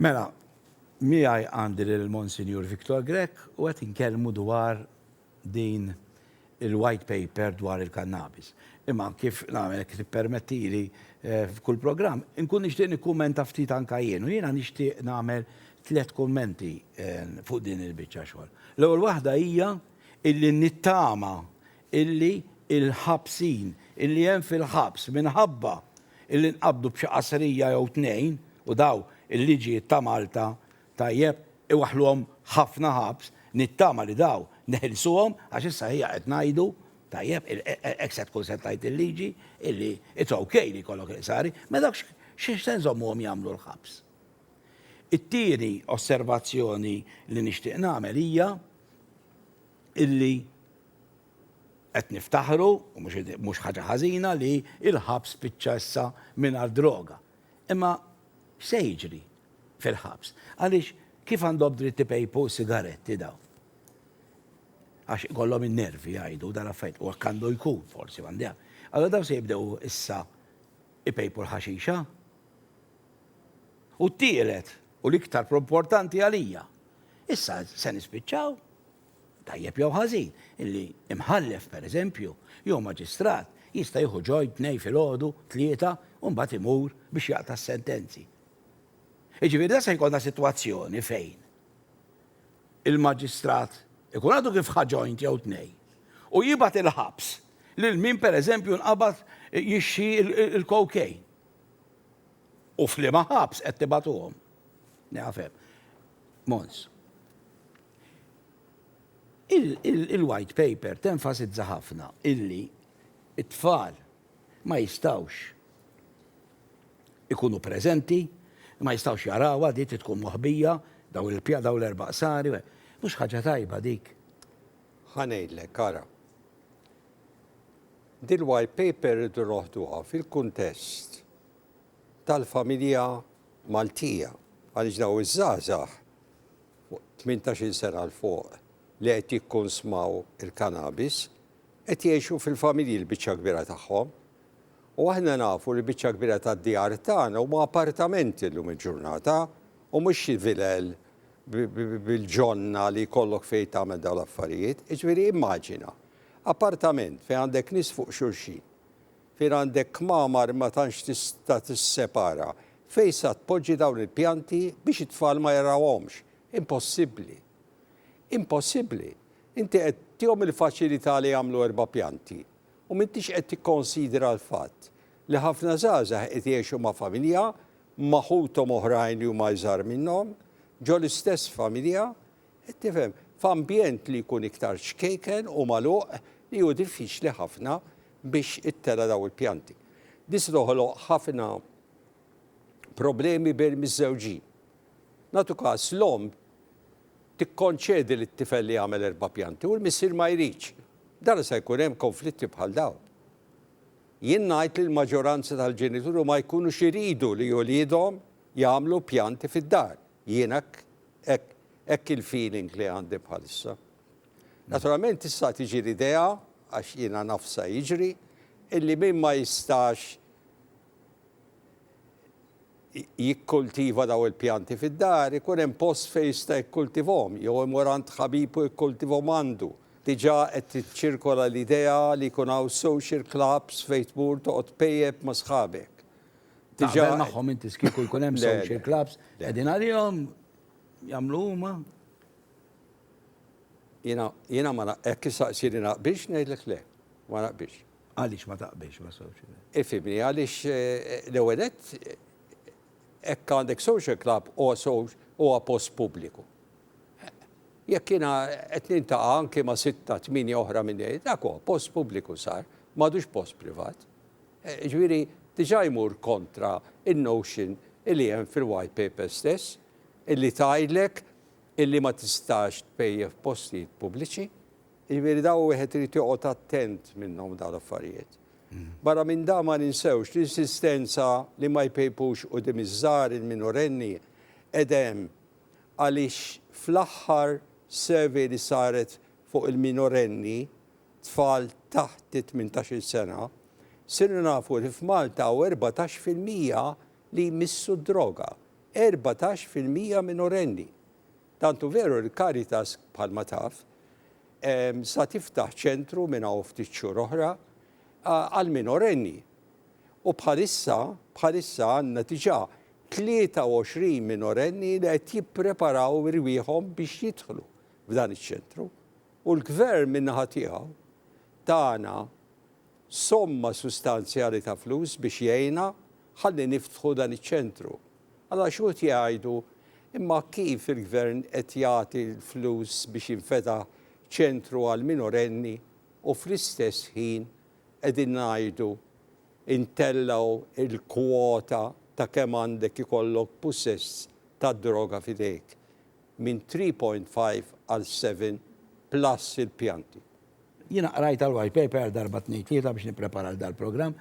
Mela, miegħi għandi lill-Monsinjur Victor Grech u qed inkellmu dwar din il-White Paper dwar il-kannabis. Imma kif nagħmel kif tippermettili eh, f'kull programm, inkun nixtieq nikkumenta ftit anka jien u jiena nixtieq nagħmel tliet kummenti eh, fuq din il-biċċa xogħol. L-ewwel waħda hija illi nittama illi l-ħabsin illi hemm fil-ħabs minħabba illi nqabdu b'xi qasrija jew tnejn, u daw il-liġijiet ta' Malta, tajjeb, iwaħħluhom ħafna ħabs, nittama li daw neħilsuhom għax issa ħija qed ngħidu, tajjeb, hekk se tkun se tgħid il-liġi, illi it's ok li jkollok il-qsari, mela dawk x'għax se nżommuhom jagħmlu l-ħabs? It-tieni osservazzjoni li nixtieq nagħmel hija illi Qed niftaħru, u mhux ħaġa ħażina, li l-ħabs spiċċa issa mingħajr droga. Imma x'se jiġri fil-ħabs? Għaliex kif għandhom dritt ipejpu sigaretti dawn? Għax ikollhom in-nervi jgħidu dan l-affarijiet, u hekk għandu jkun forsi, m'għandi għalm. Allura dawn se jibdew issa ipejpu l-ħaxixa? U t-tielet, u l-iktar importanti għalija, issa se nispiċċaw tajjeb jew ħażin, li imħallef, per eżempju, jew maġistrat jista' jieħu ġojn Tnejn filgħodu, Tlieta u mbagħad imur biex jaqta' s-sentenzi. Jiġifieri dan se jkollna sitwazzjoni fejn il-maġistrat ikun għadu kif ħa ġojn jew tnejn u jibgħat il-ħabs lil min per eżempju nqabad jixxi l-cocaine. U f'liema ħabs qed tibatuhom. Nafhem. Mons. Il-White Paper tenfasizza ħafna illi t-tfal ma jistgħux ikunu preżenti, ma jistgħux jarawha di trid tkun moħbija, dawn il-pja, dawn l-erba' qsari, mhux ħaġa tajba dik. Ħa ngħidlek, ara. Dil-White Paper irridu noħduha fil-kuntest tal-familja Maltija għaliex dawn iż-żgħażagħ fuq 18-il sena 'l fuq li qed jikkunsmaw il-kannabis qed jgħixu fil-familji l-biċċa l-kbira tagħhom. U aħna nafu li l-biċċa l-kbira tad-djar tagħna huma apartamenti llum il-ġurnata u mhux xi vilel bil-ġonna li jkollok fejn tagħmel dawn l-affarijiet. Jiġifieri immaġina, appartament fejn għandek nies fuq xulxin, Fejn għandek kmamar ma tantx tista' tissepara fejn sa tpoġġi dawn il-pjanti biex it-tfal ma jarawhomx. Impossibbli. Impossibbli. Inti qed tihom il-faċilità li jagħmlu erba' pjanti u m'intix qed tikkonsidra l-fatt li ħafna żgħażagħ qed jgħixu ma' familja, ma' ħuthom oħrajn li huma iżgħar minnhom, ġol-istess familja, Qed tifhem? F'ambjent li jkun iktar ċkejken u magħluq li hu diffiċli ħafna biex ittera' dawn il-pjanti. This toħloq ħafna problemi bejn miżżewġin. Nagħtu każ, l-omm tikkonċedi lit-tifel li jagħmel erba' pjanti u l-missier ma jridx. B'dan se jkun hemm konflitti bħal dawn. Jien ngħid li l-maġġoranza tal-ġenituri ma jkunux iridu li uliedhom jagħmlu pjanti fid-dar. Jien hekk hekk hekk il-feeling li għandi bħalissa. Naturalment issa tiġi l-idea, għax jiena naf sa jiġri, illi min ma jistax jikkultiva daw il-pjanti fid-dar, ikun hemm post fejn jista' jikkultivhom, jew imur għand ħabibu jikkultivhom għandu. Diġà qed tiċċirkola l-idea li jkun hawn social clubs fejn tmur toqgħod tpejjep ma' sħabek. Diġà magħhom inti skieku jkun hemm social clubs qegħdin għalihom jagħmlu huma. Jiena jiena ma hekk issaqsili naqbix ngħidlek le. Ma naqbix. Għaliex ma taqbix ma' social? Ifhimni għaliex eh, l-ewwel hekk għandek social club huwa post pubbliku. Jekk jiena qed nintaqa' anke ma' sitta tmini oħra minn dak post pubbliku sar, m'għadux post privat. Jiġifieri diġà jmur kontra n-notion li hemm fil-White Paper stess li tgħidlek li ma tistax tpejjep postijiet pubbliċi. Jiġifieri dawn wieħed irid joqgħod attent minnhom dawn l-affarijiet. Barra minn dan ma ninsewx l-insistenza li ma jpejpux quddiem iż-żgħar, il-minorenni, qed hemm għaliex fl-aħħar survey li saret fuq il-minorenni, tfal taħt it-tmintax-il sena, sirna nafu li f'Malta hawn erbatax fil-mija li jmissu d-droga. Erbatax fil-mija minorenni! Tant hu veru li Caritas, bħalma taf, sa tiftaħ ċentru minn hawn ftit xhur oħra għall-minorenni. U bħalissa, bħalissa għandna diġà 23 minorenni li qed jippreparaw irwieħhom biex jidħlu f'dan iċ-ċentru. U l-Gvern min-naħa tiegħu tana somma sustanzjali ta' flus biex jgħinna ħalli niftħu dan iċ-ċentru. Allura xi wħud jgħidu, imma kif il-Gvern qed jagħti l-flus biex jinfetaħ ċentru għall-minorenni u fl-istess ħin qegħdin ngħidu ntellgħu l-kwota ta' kemm għandek ikollok pussess tad-droga f'idejk? minn 3.5 għal 7 plus il-pjanti. Jiena qrajt għall-white paper darba tnejn tlieta biex nipprepara għal dal-programm.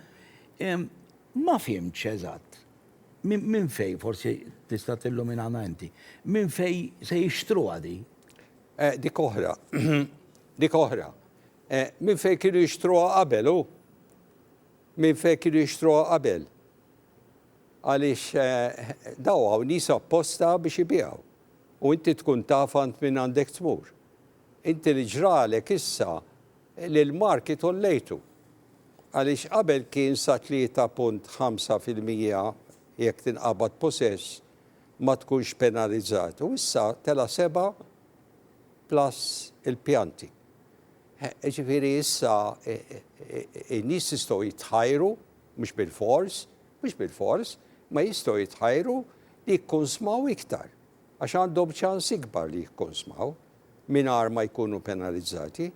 Ma fhimtx eżatt minn fejn forsi tista' tilluminana inti. Minn fejn se jixtruha di? Dik oħra. Dik oħra. Minn fejn kienu jixtruha qabel hu? Minn fejn kienu jixtruha qabel? Għaliex daw hawn nies apposta biex ibiegħu, u inti tkun taf għand min għandek tmur. Inti li ġralek issa li l-marki tollejtu, għaliex qabel kien sa 3.5 fil-mija jekk tinqabad possess ma tkunx penalizzat u issa tela' seba' plus il-pjanti. Ġifieri issa in-nies jistgħu jitħajru. mhux bilfors, mhux bilfors, ma jistgħu jitħajru li jikkunsmaw iktar, għax għandhom ċans ikbar li jikkunsmaw mingħajr ma jkunu penalizzati.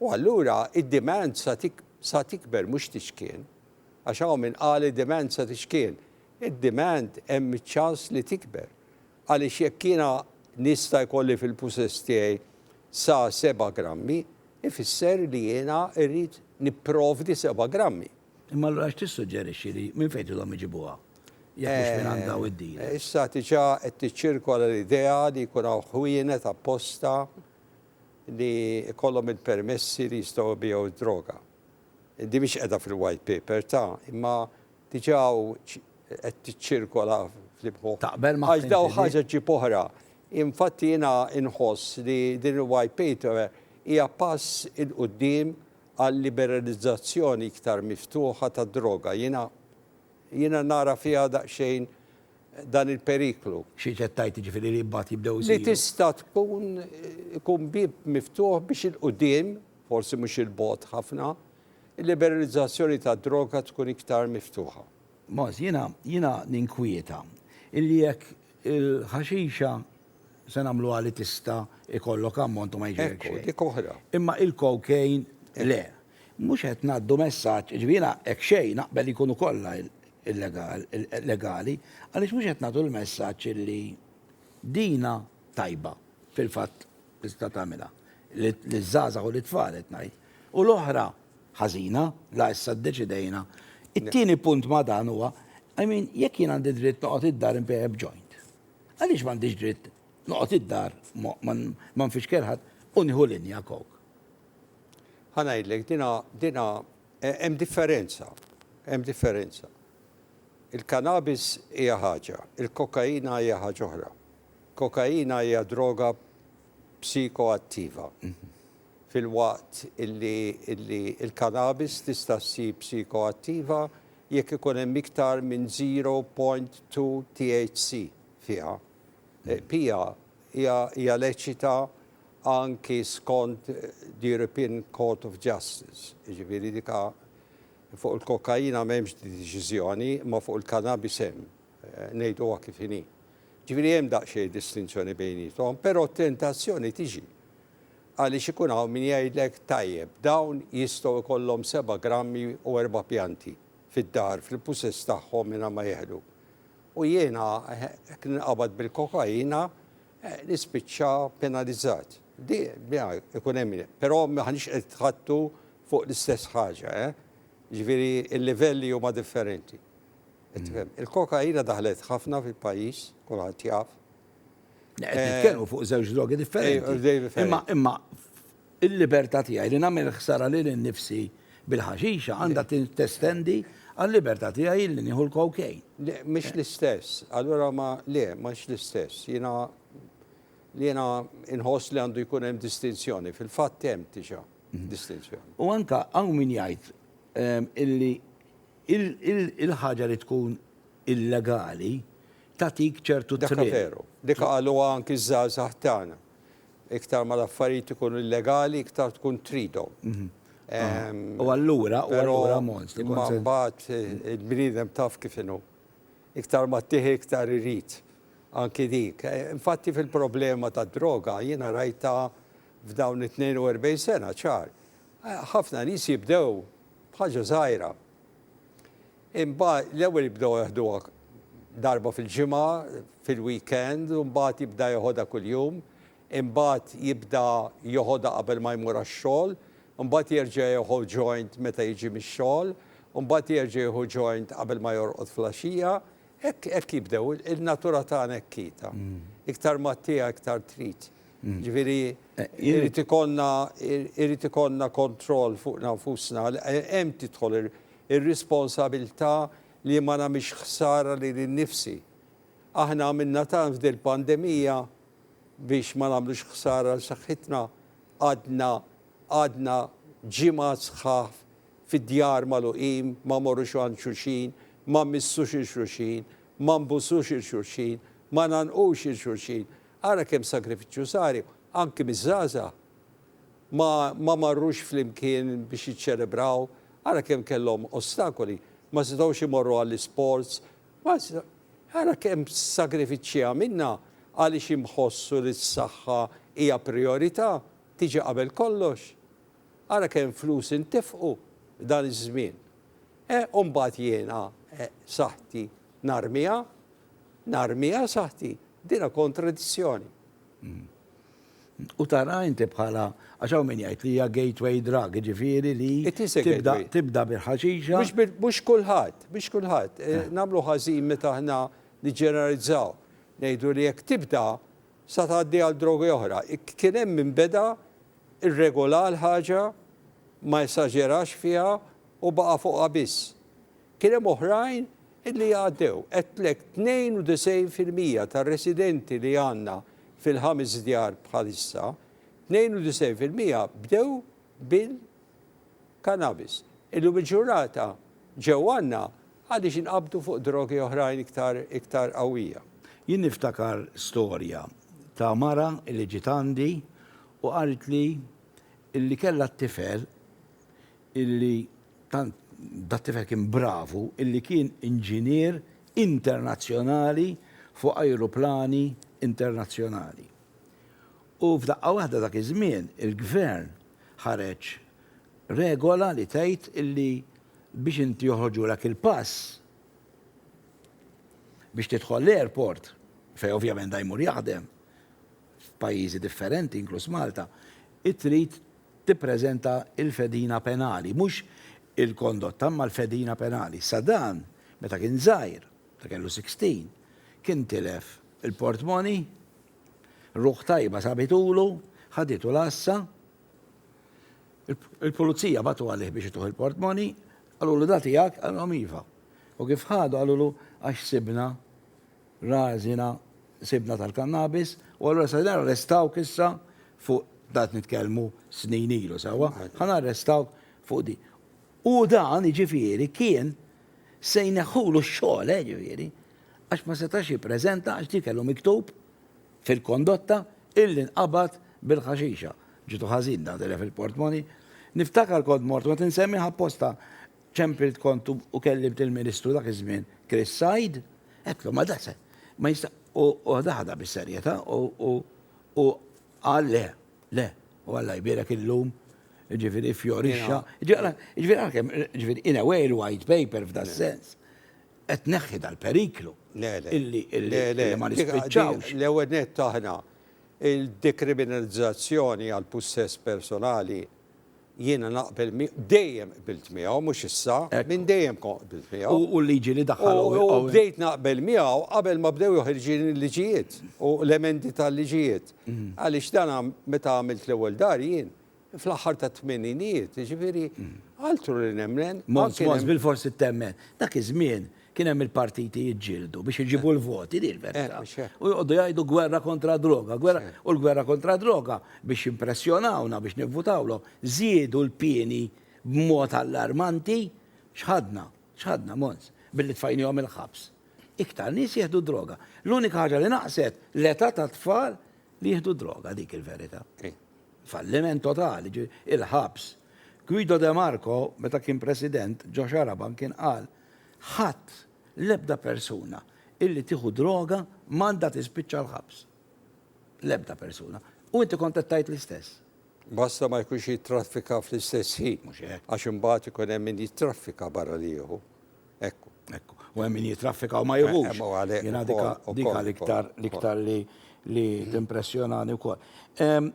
U allura id-demand sa tikber mhux tixkien, għax hawn min qal id-demand sa tixkien, id-demand hemm iċ-ċans li tikber. Għaliex jekk jiena nista' jkolli fil-pusess tiegħi sa seba' grammi, ifisser li jiena rrid nipprovdi seba' grammi. Imma allura x'tissuġġerixxi li minn fejn ilhom iġibuha, jekk mhux minn għand dawn id-dealers? Issa diġà qed tiċċirkola l-idea li jkun hawn ħwienet apposta li jkollhom il-permessi li jistgħu jbigħu d-droga. Din mhix qiegħda fil-White Paper ta', imma Diġà qed tiċċirkola fl-imħuħ. Taqbel ma' Għax daw ħaġa ġġib oħra. Infatti jiena nħoss li din il-White Paper hija pass 'il quddiem għal liberalizzazzjoni iktar miftuħa tad-droga. Jiena jiena nara fiha daqsxejn dan il-periklu. Xi qed tgħid jiġifieri li mbagħad jibdew isiru. Li tista' tkun ikun bieb miftuħ biex 'il quddiem, forsi mhux 'il bogħod ħafna, il-liberalizzazzjoni tad-droga tkun iktar miftuħa. Moss, jiena, jiena ninkwieta illi jekk il-ħaxixa se nagħmluha li tista' jkollok ammont u ma jiġrilek xejn. Ekku, dik oħra. Imma il-cocaine le. Mhux qed ngħaddu messaġġ, jiġifieri jiena hekk xejn naqbel li jkunu kollha legali, għaliex mhux qed nagħtu l-messaġġ illi dina tajba fil-fatt Tista' tagħmilha. Liż-żgħażagħ u lit-tfal qed ngħid. U l-oħra, ħażina, la issa ddeċidejna. It-tieni punt ma' dan huwa, I mean, jekk jien għandi dritt noqgħod id-dar inbigħ b'joint, għaliex m'għandix dritt noqgħod id-dar ma nfixkel ħadd u nieħu linja kok? Ħa ngħidlek, dina, dina, e, hemm differenza, hemm differenza. Il-kanabis hija ħaġa, il-kokaina hija ħaġa oħra. Kokaina hija droga psikoattiva, filwaqt li l-kannabis tista' ssir psikoattiva jekk ikun hemm iktar minn 0.2 THC fiha. Pija hija leċita anki skont l-European Court of Justice, jiġifieri dik fuq il-kokaina m'hemmx deċiżjoni, imma fuq il-kannabis hemm. Ngħiduha kif inhi. Ġifieri hemm daqsxejn distinzjoni bejniethom, però t-tentazzjoni tiġi għaliex ikun hawn min jgħidlek, tajjeb, dawn jistgħu jkollhom seba' grammi u erba' pjanti fid-dar, fil-pussess tagħhom mingħajr ma jeħlu. U jiena, jekk ninqabad bil-kokaina, nispiċċa penalizzat. Di, biha, ikun hemm min. Però m'aħniex qed nitħaddtu fuq l-istess ħaġa, eh? Ġifieri l-livelli huma differenti. Tifhem? Il-kokaina daħlet ħafna fil-pajjiż, kulħadd jaf. Qed eh, nitkellmu fuq żewġ drogi differenti. Eh, imma imma il-libertà tiegħi li nagħmel ħsara lil innifsi bil-ħaxixa għandha testendi għal-libertà tiegħi li nieħu l-kokejn. Mhix l-istess, allura ma le, mhux l-istess. Jiena li jiena inħoss li għandu jkun hemm distinzjoni, fil-fatt hemm tiġa mhm. distinzjoni. U anka hawn min jgħid ehm, illi Il-ħaġa li tkun illegali tagħtik ċertu thrill. Dak veru. Dik qaluha anki ż-żgħażagħ tagħna. Iktar ma l-affarijiet ikunu illegali iktar tkun tridhom. U allura, u allura mont. Però imma mbagħad il-bniedem taf kif inhu. Iktar ma ttieħi iktar irid. Anki dik. Infatti fil-problema tad-droga jiena rajtha f'dawn it-42 sena ċar. Ħafna nies jibdew B'ħaġa żgħira. Imma l-ewwel jibdew jeħduha darba fil-ġimgħa, fil-weekend, u mbagħad jibda jeħodha kuljum, imbagħad jibda joħodha qabel ma jmur għax-xogħol, imbagħad jerġa' jieħu joint meta jiġi mix-xogħol, imbagħad jerġa' jieħu joint qabel ma jorqod flaxija. Hekk hekk jibdew, il-natura tagħna hekk hi ta'. Iktar ma ttiegħek iktar trid. Jiġifieri jrid ikollna jrid ikollna kontroll fuqna nfusna. Hemm tidħol ir-responsabilità li ma nagħmilx ħsara lili nnifsi. Aħna għamilna tant f'dil-pandemija biex ma nagħmlux ħsara lil saħħitna. Qgħadna qgħadna ġimgħat sħaħ fid-djar magħluqin, ma morrux għand xulxin, ma mmissux 'il xulxin, ma nbusux 'il xulxin, ma ngħannqux 'il xulxin. Ara kemm sagrifiċċju sari, anki miż-żgħażagħ ma ma marrux flimkien biex jiċċelebraw, ara kemm kellhom ostakoli, ma setgħux imorru għall-isports, ma setgħu ara kemm sagrifiċċji għamilna għaliex inħossu li s-saħħa hija prijorità, tiġi qabel kollox. Ara kemm flus intefqu dan iż-żmien. Eh u mbagħad jiena eh saħħti narmiha? Narmiha saħti, dinha kontradizzjoni. U taraha inti bħala, għax hawn min jgħid li hija gateway drug, jiġifieri li tibda bil-ħaxixa. Mhux kulħadd, mhux kulħadd. Nagħmlu ħażin meta aħna niġġeneralizzaw. Ngħidu li jekk tibda sa tgħaddi għal drogi oħra. Kien hemm min beda rregola l-ħaġa, ma esaġerax fiha u baqa' fuqha biss. Kien hemm oħrajn li għaddew. Għedtlek 92 fil-mija tar-residenti li għandna fil-ħames djar bħalissa, 92 fil-mija bdew bil-kannabis. Illum il-ġurnata ġew għandna għaliex inqabdu fuq drogi oħrajn iktar iktar qawwija. Jien niftakar storja ta' mara li ġiet għandi u qaltli li kellha t-tifel illi tant dat-tifel kien bravu illi kien inġinier internazzjonali fuq ajruplani internazzjonali. U f'daqqa waħda dak iż-żmien il-gvern ħareġ regola li tgħid illi biex inti joħorġulek il-pass biex tidħol l-airport, fejn ovvjament da jmur jaħdem f'pajjiżi differenti inkluż Malta, trid tippreżenta l-fedina penali, mhux il-kondotta imma l-fedina penali. Issa dan, meta kien żgħir, meta kellu 16, kien tilef il-portmoni, ruħ tajba sabitulu, ħaditu l-għassa, il-pulizija bagħtu għalih biex ituh il-portmoni, qalulu da tiegħek, qalilhom iva. U kif ħadu qalulu għax sibna Rażina sibna tal-kannabis u allura se narrestawk issa fuq dan nitkellmu snin ilu sewwa, ħa narrestawk fuq din. U dan, jiġifieri, kien se jneħħulu x-xogħol, eh, jiġifieri, għax ma setax jippreżenta għax dik kellu miktub fil-kondotta illi nqabad bil-ħaxixa. Ġitu ħażin dan telef il-portmoni. Niftakar kont mort u qed insemmih apposta Ċempilt kont u kellimt il-Ministru dak iż-żmien Chris Said, għedtlu ma da se, ma jista', u ħadaha ħadha bis-serjetà u u qal le, le, u Alla jbierek illum, jiġifieri fjorixxa, jiġifieri għalkemm, jiġifieri in a way il-White Paper f'das-sens qed tneħħi dal-periklu illi ma nispiċċawx. L-ewwel nett aħna il-dekriminalizzazzjoni għall-pussess personali Jiena naqbel miegħu, dejjem qbilt miegħu, mhux issa, minn dejjem kont qbilt miegħu. U l-liġi li daħħal Owen. U bdejt naqbel miegħu qabel ma bdew joħirġin il-liġijiet u l-emendi tal-liġijiet. Għaliex dan meta għamilt l-ewwel dar jien, fl-aħħar tat-tmeninijiet, jiġifieri altru li nemmen. Mons, mons, bilforsi temmen. Dak iż-żmien Kien hemm il-partiti jiġġieldu biex iġibu l-voti, di l-verità. U joqogħdu jgħidu gwerra kontra droga, gwerra u l-gwerra kontra droga biex jimpressjonawna biex nivvutawlhom. Żiedu l-pieni b'mod allarmanti. X'ħadna? X'ħadna, Mons? Billi tfajniehom il-ħabs. Iktar nies jieħdu d-droga. L-unika ħaġa li naqset, l-età tat-tfal li jieħdu d-droga, dik il-verità. Falliment totali, ġifieri, il-ħabs. Guido de Marco, meta kien President, ġo Xarabank kien qal, Ħadd, l-ebda persuna, illi tieħu droga m'għandha tispiċċa l-ħabs. L-ebda persuna. U inti kont qed tgħid l-istess. Basta ma jkunx jittraffika fl-istess ħin. Mhux hekk. Għax imbagħad ikun hemm min jittraffika barra li jieħu. Ekku. Ekku. U hemm min jittraffika u ma jieħux. Hemm u għalhekk. Jiena dika l-iktar l-iktar li li timpressjonani wkoll.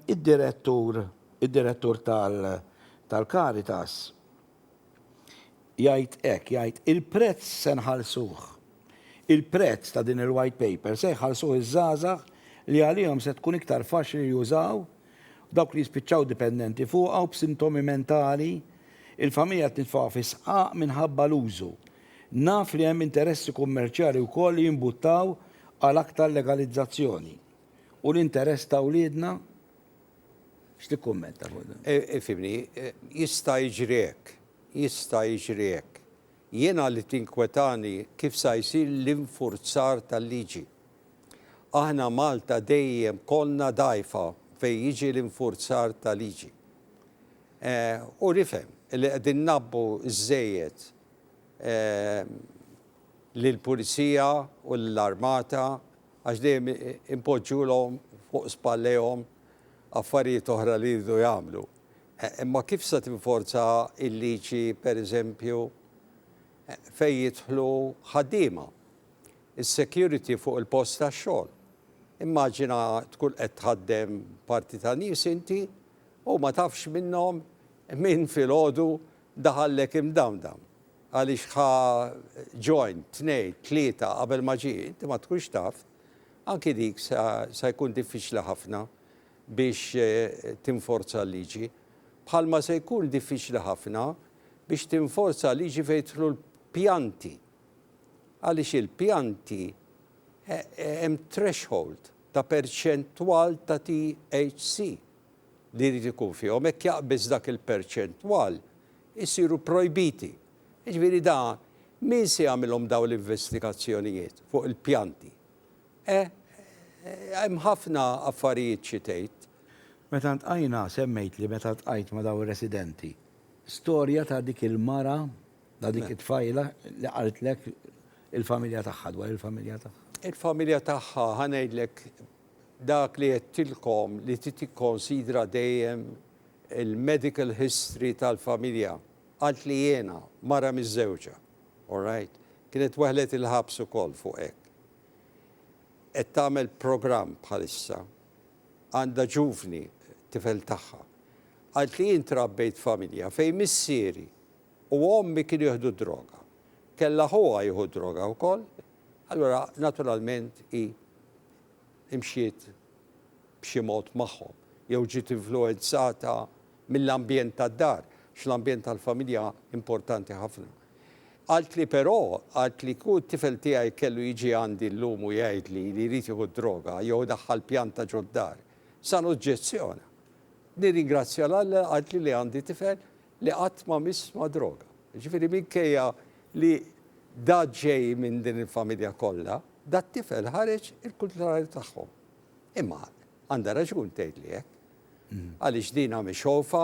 Id-direttur id-direttur tal-Caritas jgħid hekk, jgħid, il-prezz se nħallsuh. Il-prezz ta' din il-White Paper se jħallsuh iż-żgħażagħ li għalihom se tkun iktar faċli li jużaw, dawk li jispiċċaw dipendenti fuqha u b'sintomi mentali, il-familja qed nitfgħuha fi sqaq minħabba l-użu. Naf li hemm interessi kummerċjali wkoll li jimbuttaw għal aktar legalizzazzjoni. U l-interess ta' wliedna? X'tikkummenta fuq dan? E, ifhimni, e, e, jista' jiġri hekk, jista' jiġri hekk. Jiena li tinkwetani kif sa jsir l-infurzar tal-liġi. Aħna Malta dejjem konna dajfa fejn jiġi l-infurzar ta' liġi. E, u nifhem li qegħdin nabbu żejjed e, l-pulizija u l-armata għax dejjem impoġġulhom fuq spallejhom affarijiet oħra li jridu jagħmlu. Imma kif se tinforza l-liġi, pereżempju, fejn jidħlu ħaddiema? Is-security fuq il-post tax-xogħol. Immaġina tkun qed tħaddem parti ta' nies inti u ma tafx minnhom min filgħodu daħallek imdamdam. għaliex ħa ġorn, tnejn, tlieta qabel ma ġie, inti ma tkunx taf, anki dik se se jkun diffiċli ħafna biex tinforza l-liġi. Bħalma se jkun diffiċli ħafna biex tinforza l-liġi fejn jidħlu l-pjanti. Għaliex il-pjanti hemm threshold ta' perċentwal ta' THC. li jrid ikun fihom, hekk jaqbiż dak il-perċentwal, isiru projbiti. Jiġifieri da min se jagħmilhom dawn l-investigazzjonijiet fuq il-pjanti? Eh, hemm ħafna affarijiet xi tgħid. Meta ltqajna semmejtli meta ltqajt ma' dawn ir-residenti, storja ta' dik il-mara, ta' dik it-tfajla li qaltlek il-familja tagħha, dwar il-familja tagħha. Il-familja tagħha, ħa ngħidlek, dak li għedtilkom li trid tikkonsidra dejjem il-medical history tal-familja, qalt li jiena, mara miżżewġa, alright, kienet weħlet il-ħabs ukoll fuq hekk. Qed tagħmel programm bħalissa, għandha ġuvni, tifel tagħha. Qalt li jien trabbejt f'familja fejn missieri u ommi kienu jieħdu d-droga. Kellha ħuha jieħu d-droga wkoll. Allura naturalment hi mxiet b'xi mod magħhom jew ġiet influwenzata mill-ambjent tad-dar, għax l-ambjent tal-familja importanti ħafna. Qaltli però, qaltli kieku t-tifel tiegħi kellu jiġi għandi llum u jgħidli li jrid jieħu d-droga jew idaħħal pjanta ġod-dar, sa noġġezzjona. Nirringrazzja 'l Alla, qaltli, li għandi tifel li qatt ma miss ma' droga. Jiġifieri minkejja li da ġej minn din il-familja kollha, dat-tifel ħareġ il-kuntrarju tagħhom. Imma għandha raġun tgħidli hekk. Mm. Għaliex din għami xofa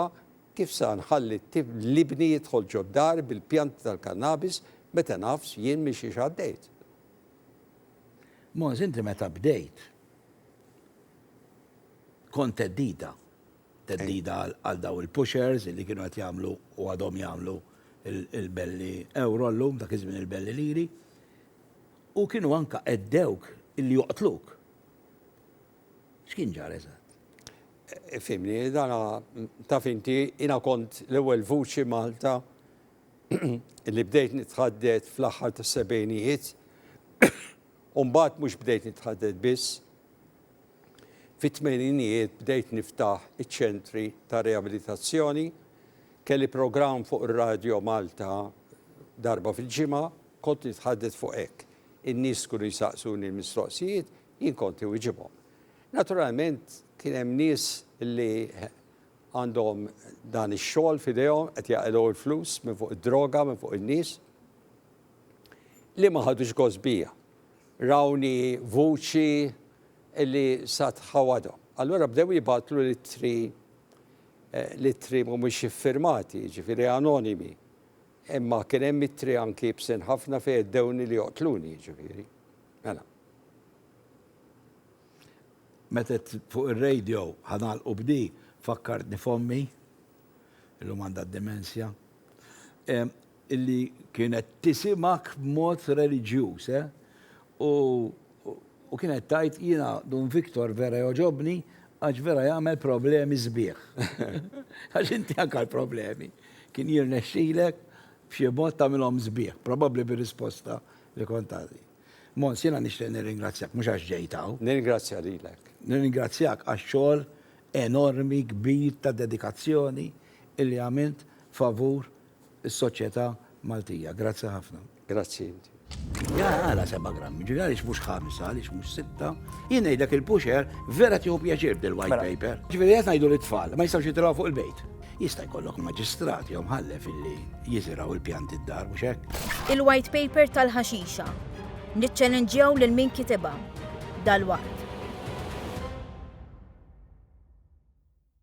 kif sa nħalli l-ibni jidħol ġoddar bil-pjanti tal-kannabis meta nafs jien minn xiex għaddejt. Moż, inti meta bdejt kont teddida. theddida għal dawn il-pushers li kienu qed jagħmlu u għadhom jagħmlu l-belli ewro llum, dak iż-żmien il-belli liri, u kienu anke għeddewk illi joqtluk. X'kien ġara eżatt? Fimni, dana taf inti jiena kont l-ewwel vuċi Malta li bdejt nitħaddet fl-aħħar tas-sebgħinijiet u mbagħad mhux bdejt nitħaddet biss, Fit-tmeninijiet bdejt niftaħ iċ-ċentri ta' riabilitazzjoni. Kelli programm fuq ir-radjo Malta darba fil-ġimgħa, kont nitħaddet fuq hekk. In-nies kienu jsaqsuni l-mistoqsijiet, jien kont iwiġibhom. Naturalment kien hemm nies li għandhom dan ix-xogħol f'idejhom, qed jaqilgħu l-flus minn fuq id-droga, minn fuq in-nies, li ma ħadux gost bija. Rawni vuċi li sa tħawadhom. Allura bdew jibgħatlu l-ittri, l-ittri mhumiex iffirmati, jiġifieri anonimi. Imma kien hemm ittri anki ibsin ħafna fejn għeddewni li joqtluni, jiġifieri. Mela. Meta għedt fuq ir-radio ħa nagħlqu b'di, fakkartni f'ommi, illum għandha d-dimensja. illi kienet tisimgħek b'mod reliġjuż, eh? U, u kienet tgħid, jiena Dun Victor vera jogħġobni għax vera jagħmel problemi sbieħ. Għax inti anke l-problemi kien jirnexxilek b'xi mod tagħmilhom sbieħ, probabbli bir-risposta li kont tagħti. Mons, jiena nixtieq nirringrazzjak mhux għax ġejt hawn. Nirringrazzja lilek. Nirringrazzjak għax-xogħol enormi, kbir ta' dedikazzjoni illi għamilt favur is-soċjetà Maltija. Grazzi ħafna. Grazzi. Jaa għala seba' grammi, ġifieri għaliex mhux ħamsa, għaliex mhux sitta. Jien ngħidlek il-pusher vera tieħu pjaċir b'dil-white mela. paper. Ġifieri qed ngħidu lit-tfal ma jistgħux jitilgħu fuq il-bejt. Jista' jkollok maġistrat jew mħallef illi jiżirgħu l-pjanti d-dar mhux hekk? Il-white paper tal-ħaxixa. Niċċelenġjaw lil min kitibha dalwaqt.